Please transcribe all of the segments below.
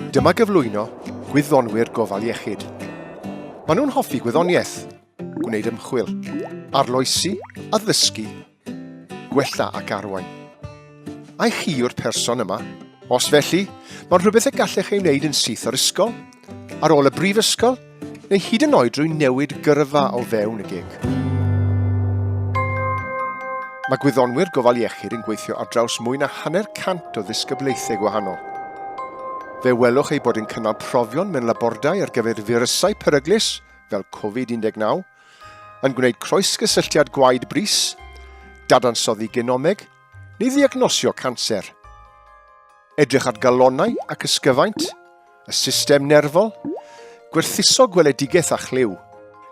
Dyma gyflwyno gwyddonwyr gofal iechyd. Maen nhw'n hoffi gwyddoniaeth, gwneud ymchwil, arloesi, addysgu Gwella ac arwain. Ai chi yw'r person yma? Os felly, mae'n rhywbeth y gallech ei wneud yn syth o'r ysgol, ar ôl y brifysgol, neu hyd yn oed drwy newid gyrfa o fewn y gig. Mae gwyddonwyr gofal iechyd yn gweithio ar draws mwy na hanner cant o ddisgyblaethau gwahanol. Fe welwch ei bod yn cynnal profion mewn labordai ar gyfer firysau peryglus fel Covid-19, yn gwneud croesgysylltiad gwaed brys, dadansoddi genomeg, neu ddiagnosio canser. Edrych ar galonau ac ysgyfaint, y system nerfol, gwerthuso gweledigaeth a chlyw,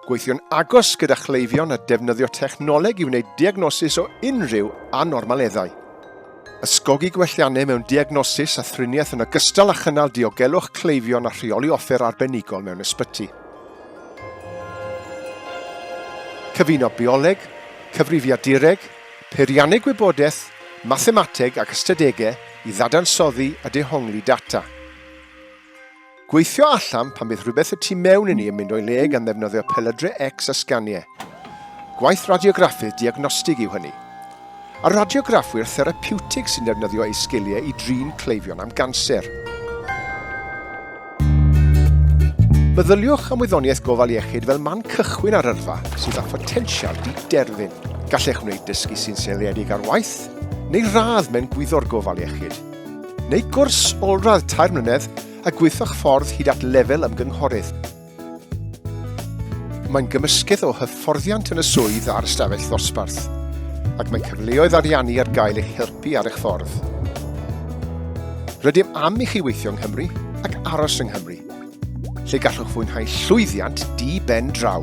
gweithio'n agos gyda chleifion a defnyddio technoleg i wneud diagnosis o unrhyw anormaleddau. Ysgogi gwelliannau mewn diagnosis a thriniaeth yn ogystal â chynnal diogelwch cleifion a rheoli offer arbenigol mewn ysbyty. Cyfuno bioleg, cyfrifiadureg, peirianneg gwybodaeth, mathemateg ac ystadegau i ddadansoddi a dehongli data. Gweithio allan pan bydd rhywbeth y tu mewn inni yn mynd o'i le gan ddefnyddio pelydrau X a sganiau. Gwaith radiograffydd diagnostig yw hynny. a radiograffwyr therapiwtig sy'n defnyddio eu sgiliau i drin cleifion am ganser. Meddyliwch am wyddoniaeth gofal iechyd fel man cychwyn ar yrfa sydd â photensial di-derfyn. Gallech wneud dysgu sy'n seiliedig ar waith neu radd mewn gwyddor gofal iechyd, neu gwrs olradd tair mlynedd a gweithio'ch ffordd hyd at lefel ymgynghorydd. Mae'n gymysgedd o hyfforddiant yn y swydd a'r ystafell ddosbarth, ac mae cyfleoedd ariannu ar gael eich helpu ar eich ffordd. Rydym am i chi weithio yng Nghymru ac aros yng Nghymru, lle gallwch fwynhau llwyddiant di-ben draw.